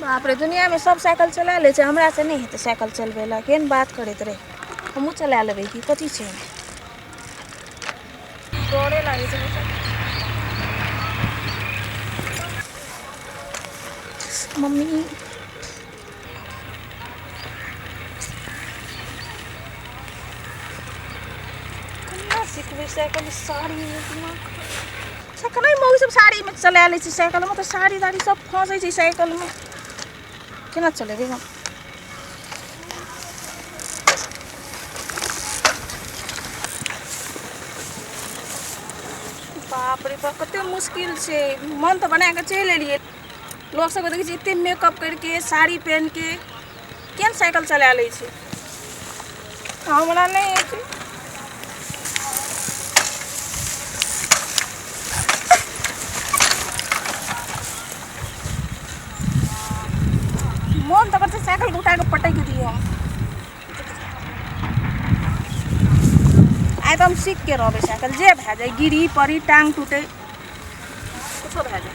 बाप रे दुनिया में सब साइकिल चला ले छै हमरा से नहि हेतै साइकिल चलबै लए केहन बात करैत रहे हमहूँ चला लेबै कि कथी छै डरे लागै छै मम्मी सिखबै साइकिल साड़ी सखनै मौगी सब साड़ीमे चला लै छै साइकिलमे तऽ साड़ी ताड़ी सब फँसै छै साइकिलमे केना चलेबै हम बाप रे बाप कते मुश्किल छै मन तऽ बनाके चलि एलियै लोक सबके देखै छियै एते मेकअप करिके साड़ी पहिनके किएक साइकिल चला लै छी हमरा नहि होइ छै मोन तऽ करतै साइकिल उठा कऽ पटैक दियौ हम आइ तऽ हम सीख के रहबै साइकिल जे भए जाय गिरी पड़ी टांग टूटे कुछो भए जाय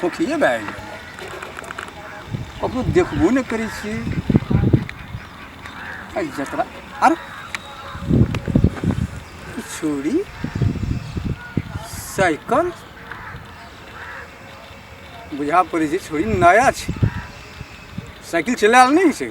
खोखिए भए गेल ककरो देखबो नहि करै छियै एहि जतरा आर छुरी साइकिल बुझा पड़ै छै छुरी नया छै साइकिल चलायल नहि छै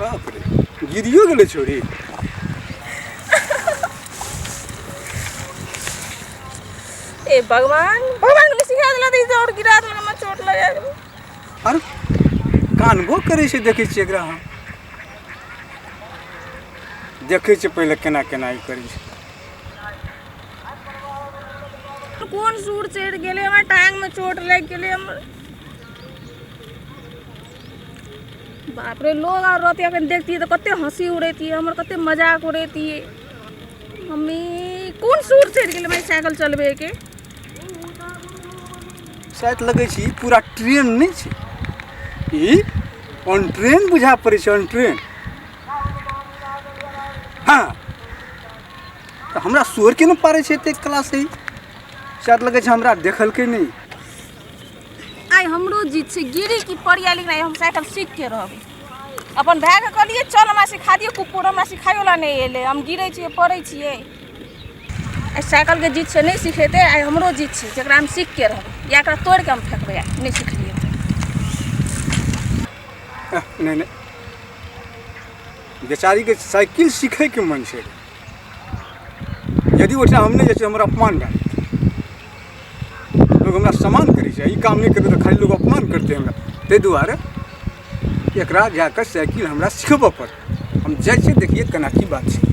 बाप रे गिरियो गेलै छोरी ए भगवान भगवान के सिखा देला दी दौड़ गिरा देला हमर चोट लगा गेल आर कानबो करै छै देखै छियै एकरा हम देखै छियै पहिले केना केना ई करै छै कोन सूर चढ़ि गेलै हमर टाङ्गमे चोट लागि गेलै हमर बाप रे लोग आर रहते अखन देखतियै तऽ कते हँसी उड़ेतियै हमर कते मजाक उड़ेतियै मम्मी कोन सूर चढ़ि गेलै हमरा साइकिल चलबैके शायद लगै छै पूरा ट्रेन नहि छै ई ऑन ट्रेन बुझा पड़ै छै ऑन ट्रेन हँ तऽ हमरा सोर के ने पारे छै एते कला से शायद लगे छै हमरा देखलकै नहीं आइ हमरो जीत छै गिरी की पड़िया लेकिन आइ हम साइकिल सीख के रहबै अपन भाय के कहलिए चल हमरा सिखा दियो कुकुर हमरा सिखायो ला नहीं एले हम गिरे छिए पड़े छिए आइ साइकिल के जीत से नहीं सिखेते आइ हमरो जीत छै जकरा हम सीख के रहबै या एकरा तोड़ के हम फेंकबै आइ नहीं सिखलिए नहीं नहीं बेचारी के साइकिल सीखे के मन छै यदि ओहिठाम हम नहि जाइ छी हमर अपमान भए लोक हमरा सम्मान करै छै ई काम नहि करबै तऽ खाली लोक अपमान करतै हमरा ताहि दुआरे एकरा जा कऽ साइकिल हमरा सिखबऽ पड़त हम जाइ छियै देखियै केना की बात छै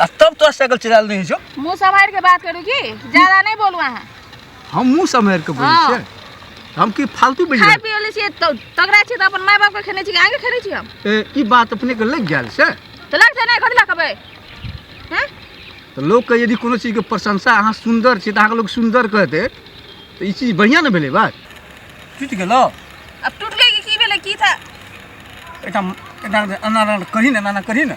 आ तब तोरा साइकिल चलायल नहीं छो मुंह संभाल के बात करू की ज्यादा नहीं बोलू अहाँ हम मुंह सम्हारि के बोलै हाँ। छियै हम की फालतू बजि खाय रहल पियो ले छियै तो तगड़ा छियै तो अपन माय बाप के खेने छियै आगे खेने छियै हम ए, ई बात अपने के लग गेल से तो लगते नहीं कथी लकबे हैं तऽ लोकके यदि कोनो चीजके प्रशंसा अहाँ सुन्दर छी तऽ अहाँके लोक सुन्दर कहतै तऽ ई चीज बढ़िआँ ने भेलै बात टूटि गेलो अब टूट गई कि की भेलै की था एकटा एकटा एना एना करही ने एना एना करही ने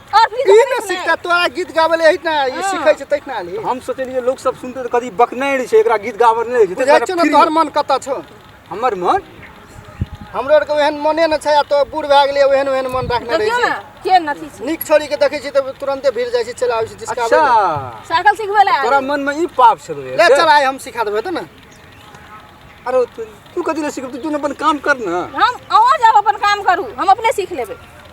और फिर ई ने सिखता तोरा गीत गाबै ले एहिना ई हाँ। सिखै छै तहिना आली हम सोचलिए लोग सब सुनते कदी बकने रहे छै एकरा गीत गाबै नै छै बुझै छै ने तोहर मन कत छौ हमर मन हमरो आर के ओहन मने न छै तो बूढ़ भए गेलिए ओहन ओहन मन राखने रहै छै के नथी छै नीक छोड़ी के देखै छी त तुरंते भिड़ जाइ छै चला आबै छै जिसका अच्छा साइकिल सिखबै ले तोरा मन में ई पाप छलो ले चल आइ हम सिखा देबै त न अरे तू कदी ले सिखब तू अपन काम कर न हम अहो जाब अपन काम करू हम अपने सीख लेबै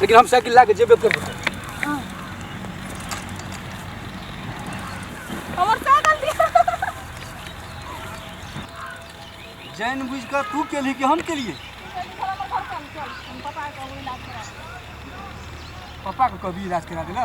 लेकिन हम साइकिल ला के जेबे करबो हमर साइकिल दिया जान बुझ के तू केली कि हम केलिए पापा के कभी इलाज करा देला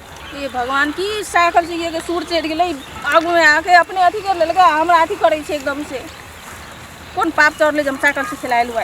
हे भगवान की साइकिल से ये सूर चढ़ि गेलै आगूमे आके अपने अथी कर लेलकै हमरा अथी करै छै एकदम से कोन पाप चढ़लै जे हम साइकिल से खेलायल हुआ